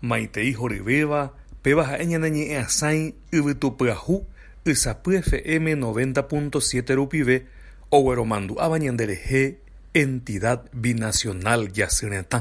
Maitei horyvéva, péva ha'e ñane ñe'ẽ asãi yvytupyahu ysapy FM noventa punto siete rupive ogueromandu'áva ñande rehe Entidad Binacional Jasy Retã.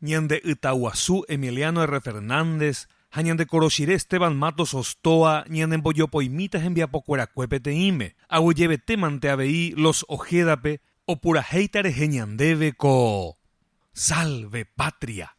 Ñande Ytaguasu Emiliano R. Fernández ha Ñande Koroshire Esteban Matos Ostoa ñanembojopoimíta hembiapokuerakue peteĩme, aguyjevetémante avei Los Ojeda-pe opurahéita rehe ñandéve ko Salve Patria!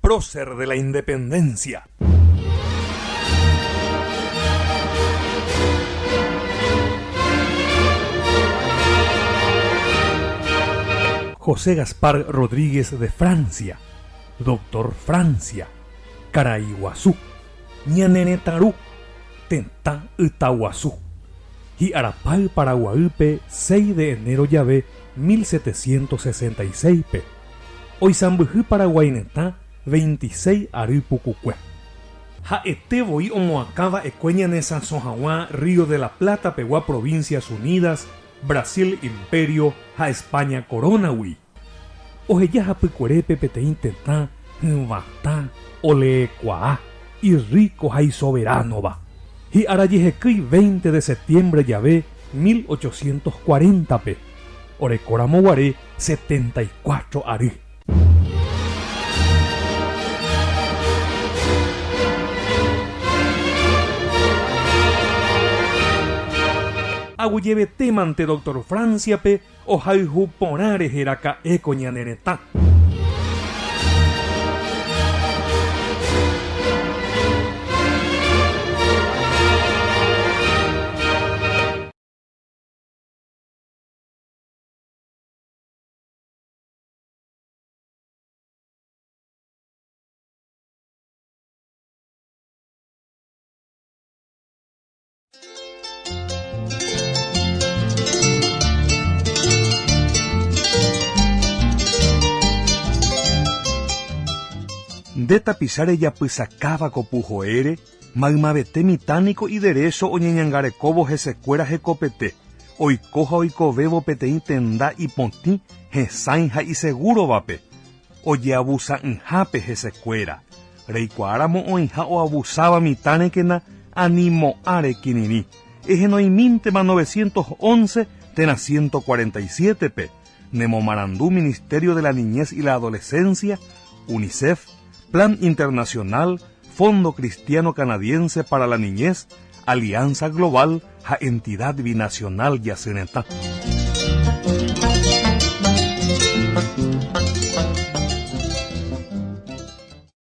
Prócer de la Independencia. José Gaspar Rodríguez de Francia, Doctor Francia, Caraiguazú, Ñaneretãru, Tetã Ytaguasu, Hi'arapáy Paraguaýpe 6 de enero jave 1766-pe. Oisãmbyhy Paraguái retã veintiséis ary pukukue. Ha'ete voi omoakã va'ekue ñanesãso hag̃ua Río de la Plata pegua Provincias Unidas, Brasil Imperio ha España Corona-gui. Oheja hapykuerépe peteĩ tetã hyvatã, oleekuaa, irríko ha isoveránova. Hi'ára jehekýi veinte de septiembre jave mil ochocientos cuarenta-pe, orekóramo guare, setenta y cuatro ary. Aguyvetémante doctor Francia-pe ohayhu porã rehe raka'éko ñane retã. Nde tapicha rejapysakáva ko puhoére Maymavete mitã niko iderécho oñeñangarekóvo hesekuéra hekopete, oiko ha oikovévo peteĩ tenda ipotĩ, hesãi ha isegúrovape. Ojeavusa'ỹhápe hesekuéra, reikuaáramo oĩha oavusáva mitã rekena ani mo'ã rekirirĩ, ehenoimíntema novecientos once térã ciento cuarenta y siete-pe, Nemomarandu Ministerio de la Niñez y la Adolescencia, Unicef, Plan Internacional, Fondo Cristiano Canadiense para la Niñez, Alianza Global ha Entidad Binacional Jasy Retã.